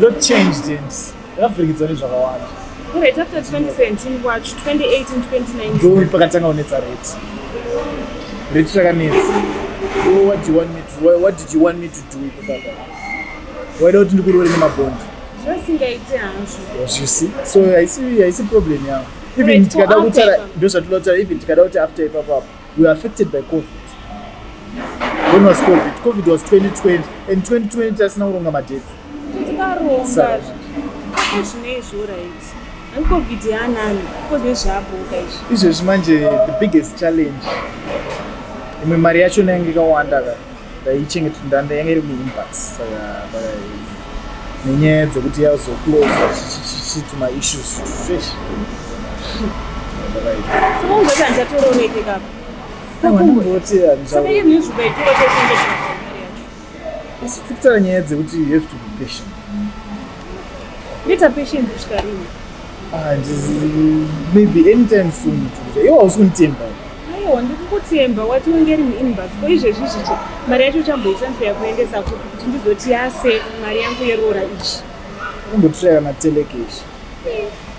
Lot changed and yavhirikidzwa nezvakawanda. Right after 2017 kwacho 2018 2019. Ndori pakatanga kunetsa rate. Rate chakanetsa. Oh, what do you want me to what, what did you want me to do kutaka? Waida kuti ndikurore nemabond. Zvasingaite hazvo. Yes, you see. So I see I see problem yangu. Even tikada kutaura ndozvatinotaura even tikada kuti after ipapo apo. we were affected by covid when was covid covid was 2020 and 2020 tasina kuronga madhedzi tikaronga zvinei zvo right covid yanani covid zvaboka izvi izvezvi manje the biggest challenge imwe mari yacho nainge ikawanda ka ndaichengeta ndanda yanga iri muinbox saka nenyaya dzekuti yazoclosa chichichiti maissues fresh asi tikutaura nyaya dzekuti you have to be patient Peter Patience kusvika rini? Ah, maybe anytime soon. Iwe hausi kunditemba. Aiwa, ndikukutemba wati unge iri muinbox. Ko izvezvi zvicho mari yacho uchamboita mfeya kuendesa kupi kuti ndizoti yase mari yangu yerora ichi. Kumbotiraya matelecase.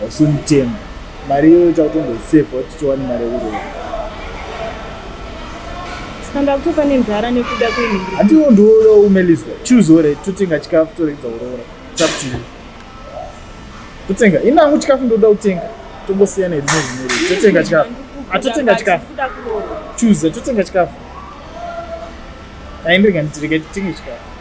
hausi mutemo mari iyoyo chakutongoisevha kuti tiwane mari yekuroa kanda kutofa nenzara nekuda kwenhiri handiwo ndiwoda umeliswa choose ore totenga chikafu toregedza kuroora taptiyo totenga ini hangu chikafu ndoda kutenga tongosiyana heduno zvimiri totenga chikafu atotenga chikafu choose totenga chikafu aindega nditirega titenge chikafu